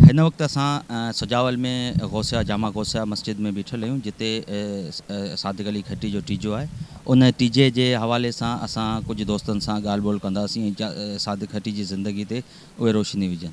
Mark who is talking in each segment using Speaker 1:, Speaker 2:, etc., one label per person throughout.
Speaker 1: هن وقت اسان سجاول ۾ غوثيه جامع غوثيه مسجد ۾ بيٺل آهيون جتي صادق علي کٽي جو ٽيجو آهي ان ٽيجي جي حوالي سان اسان ڪجهه دوستن سان ڳالهه ٻولهه ڪنداسين ۽ صادق کٽي جي زندگي تي اهي روشني وجهن.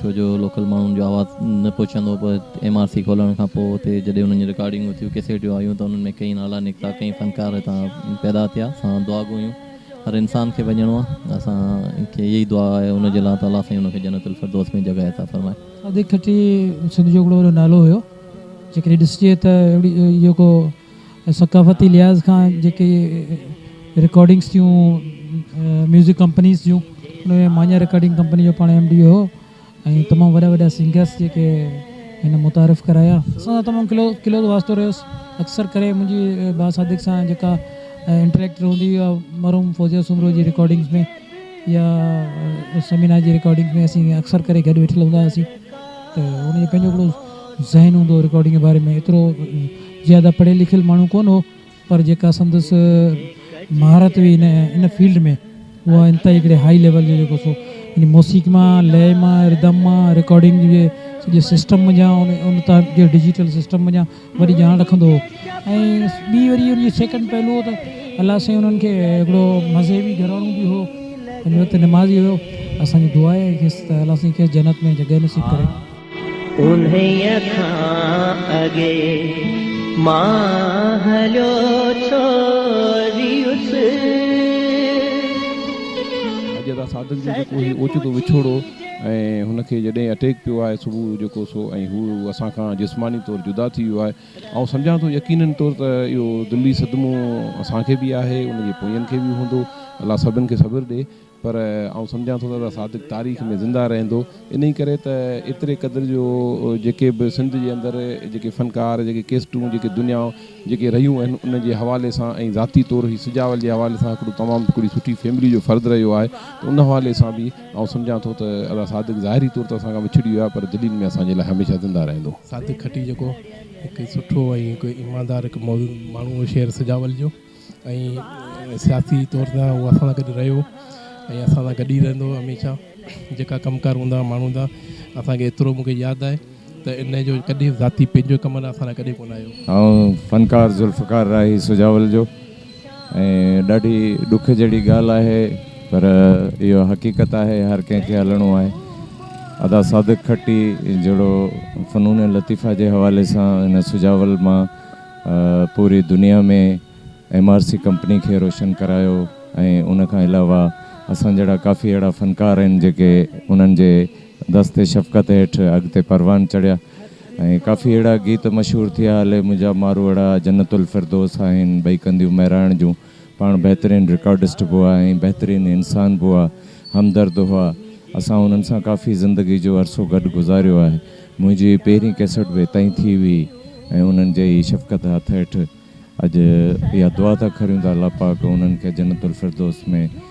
Speaker 2: ڇو جو لوڪل ماڻهن جو آواز نه پهچندو هو پر ايم آر سي کولڻ کان پوء اتي جڏهن انهن جون رڪارڊنگون ٿيون، ڪيسيٽيون آيون ته انهن ۾ ڪئين نالا نڪتا، ڪئين فنڪار هتان پيدا ٿيا، اسان دعا گهيون، هر انسان کي وڃڻو آهي، اسان کي اها ئي دعا آهي ان جي لاء ته الله سائين ان کي جنت الفردوس ۾ جڳهه عطا فرمائي. صادق ٺٽي
Speaker 3: سنڌ جو هڪڙو وڏو نالو هيو جيڪڏهن ڏسجي ته اهڙي اهو ڪو ۽ ثقافتي لحاظ کان جيڪي رڪارڊنگس ٿيون ميوزڪ ڪمپنيز جون ان ۾ مانيا رڪارڊنگ ڪمپني جو پاڻ ايم ڊي هو ۽ تمام وڏا وڏا سنگرس جيڪي هن متعارف ڪرايا اسان سان تمام کلو کلوز واسطو رهيس اڪثر ڪري منهنجي با صادق سان جيڪا انٽريڪٽ رهندي هئي اها مرحوم فوزيه سومرو جي رڪارڊنگس ۾ يا سمينا جي رڪارڊنگس ۾ اسين اڪثر ڪري گڏ ويٺل هوندا هئاسين ته ان جو پنهنجو هڪڙو ذهن هوندو هو رڪارڊنگ جي باري ۾ ايترو زياده پڙهيل لکيل ماڻهو ڪونه هو پر جيڪا سندس مهارت هئي ان ان فيلڊ ۾ اها انتهائي هڪڙي هائي ليول جو جيڪو سو يعني موسيقي مان لئه مان ردم مان رڪارڊنگ جي سڄي سسٽم منجهان ان ان تان جي ڊجيٽل سسٽم منجهان وڏي ڄاڻ رکندو هو ۽ ٻي وري ان جي سيڪنڊ پهلو هو ته الله سائين انهن کي هڪڙو مذهبي گهراڻو به هو پنهنجي وقت نمازي هيو اسان جي دعا آهي کيس ته الله سائين کيس جنت ۾ جڳهه نصيب ڪري انهيء کان اڳي مان هليو
Speaker 4: ڇو ريس. اڄ ادا سادن جو جيڪو هي اوچتو وڇوڙو ۽ هن کي جڏهن اٽيڪ پيو آهي صبح جيڪو سو ۽ هو اسان کان جسماني طور جدا ٿي ويو آهي آئون سمجهان ٿو يقينن طور ته اهو دلي صدمو اسان کي به آهي ان جي پوئين کي به هوندو الله سڀن کي صبر ڏي. پر آئون سمجهان ٿو ته ادا صادق تاريخ ۾ زنده رهندو انهي ڪري ته ايتري قدر جو جيڪي به سنڌ جي اندر جيڪي فنڪار جيڪي ڪيسٽون جيڪي دنيا جيڪي رهيون آهن انهن جي حوالي سان ۽ ذاتي طور هي سجاول جي حوالي سان هڪڙو تمام هڪڙي سٺي فيملي جو فرد رهيو آهي ته ان حوالي سان به آئون سمجهان ٿو ته ادا صادق ظاهري طور ته اسان کان وڇڙي ويو آهي پر دلين ۾ اسان جي لاء هميشه زنده رهندو. صادق کٽي جيڪو
Speaker 5: هڪ سٺو ۽ هڪ ايماندار هڪ ماڻهو هو شهر سجاول جو. ۽ سياسي طور تان هو اسان سان گڏ رهيو ۽ اسان سان گڏ ئي رهندو هميشه جيڪا ڪم ڪار هوندا ماڻهو هوندا اسان کي ايترو مون کي ياد آهي ته ان جو ڪڏهن ذاتي پنهنجو ڪم لاء اسان لاء ڪڏهن ڪونه آيو. آئون فنڪار
Speaker 6: ذوالفقار راهي سجاول جو ۽ ڏاڍي ڏک جهڙي ڳالهه آهي پر اهو حقيقت آهي هر ڪنهن کي هلڻو آهي ادا صادق کٽي جهڙو فنون لطيفه جي حوالي سان هن سجاول مان پوري دنيا ۾ ايم آر سي ڪمپني کي روشن ڪرايو ۽ ان کان علاوه اسان جهڙا ڪافي اهڙا فنڪار آهن جيڪي انهن جي دست شفقت هيٺ اڳتي پروان چڙهيا ۽ ڪافي اهڙا گيت مشهور ٿيا هلي منهنجا ماروئڙا جنت الفردوس آهن ٻئي ڪنديون مهراڻ جون پاڻ بهترين رڪارڊسٽ به هئا ۽ بهترين انسان به هئا، همدرد هئا. اسان هنن سان ڪافي زندگي جو عرصو گڏ گذاريو آهي. منهنجي هي پهرين ڪيسٽ به اتان ئي ٿي هئي ۽ انهن جي ئي شفقت هٿ هيٺ اڄ اها دعا ٿا ڪريون ته الله پاڪ انهن کي جنت الفردوس ۾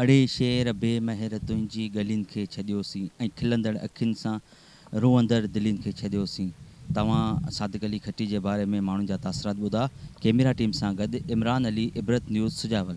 Speaker 7: اڙي
Speaker 1: شعر بي مهر تنهنجي ڳلين کي ڇڏيوسين ۽ کلندڙ اکين سان روئندڙ دلين کي ڇڏيوسين توهان صادق علي کٽي جي باري ۾ ماڻهن جا تاثرات ٻڌا ڪيميرا ٽيم سان گڏ عمران علي عبرت نيوز سجاول.